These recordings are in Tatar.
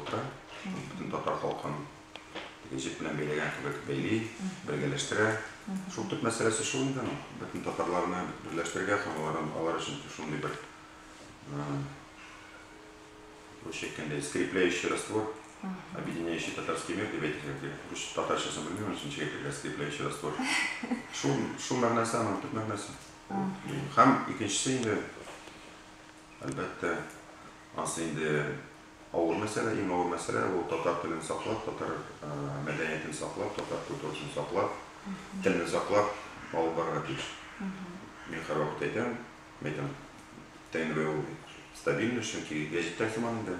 Утыра, бөтен татар халкын җеп белән бәйләгән кебек бәйли, бергәләштерә. Шул төп мәсьәләсе шул инде аның. Бөтен татарларны берләштерергә һәм алардан алар өчен шундый бер русча әйткәндә скрепляющий раствор, объединяющий татарский мир дип әйтергә кирәк. Рус татарчасын белмим, аның өчен ничек әйтергә скрепляющий раствор. Шул шул мәгънәсе аның төп мәгънәсе. Һәм икенчесе инде Әлбәттә, ансы инде авыр мәсьәлә, иң авыр мәсьәлә, ул татар телен саклап, татар мәдәниятен саклап, татар культурасын саклап, телне саклап алып барырга тиеш. Мин һәрвакыт әйтәм, әйтәм, ТНВ ул стабильность, чөнки гәҗиттә сыман инде.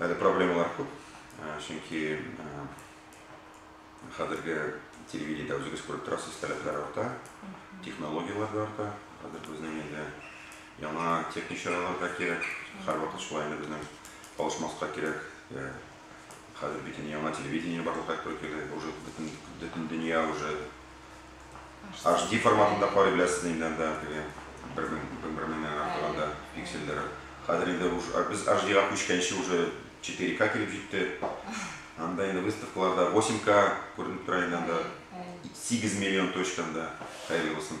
Әле проблемалар күп, чөнки хәзерге телевидениедә үзегез күреп торасыз, таләпләр арта, технологияләр дә арта. Хәзер безнең инде яңа техник чаралар да кирәк. Һәрвакыт шулай инде безнең калышмаска кирәк. Хәзер бит инде яңа телевидение барлыкка килде. Уже бөтен дөнья уже HD форматында карый беләсез инде анда теге бер мең, бер бер меңнән артык анда пиксельләре. Хәзер инде уж а, без HD-га күчкәнче уже 4К килеп җитте. Анда инде выставкаларда 8К күренеп тора инде анда. Сигез миллион точка анда, хәерле булсын.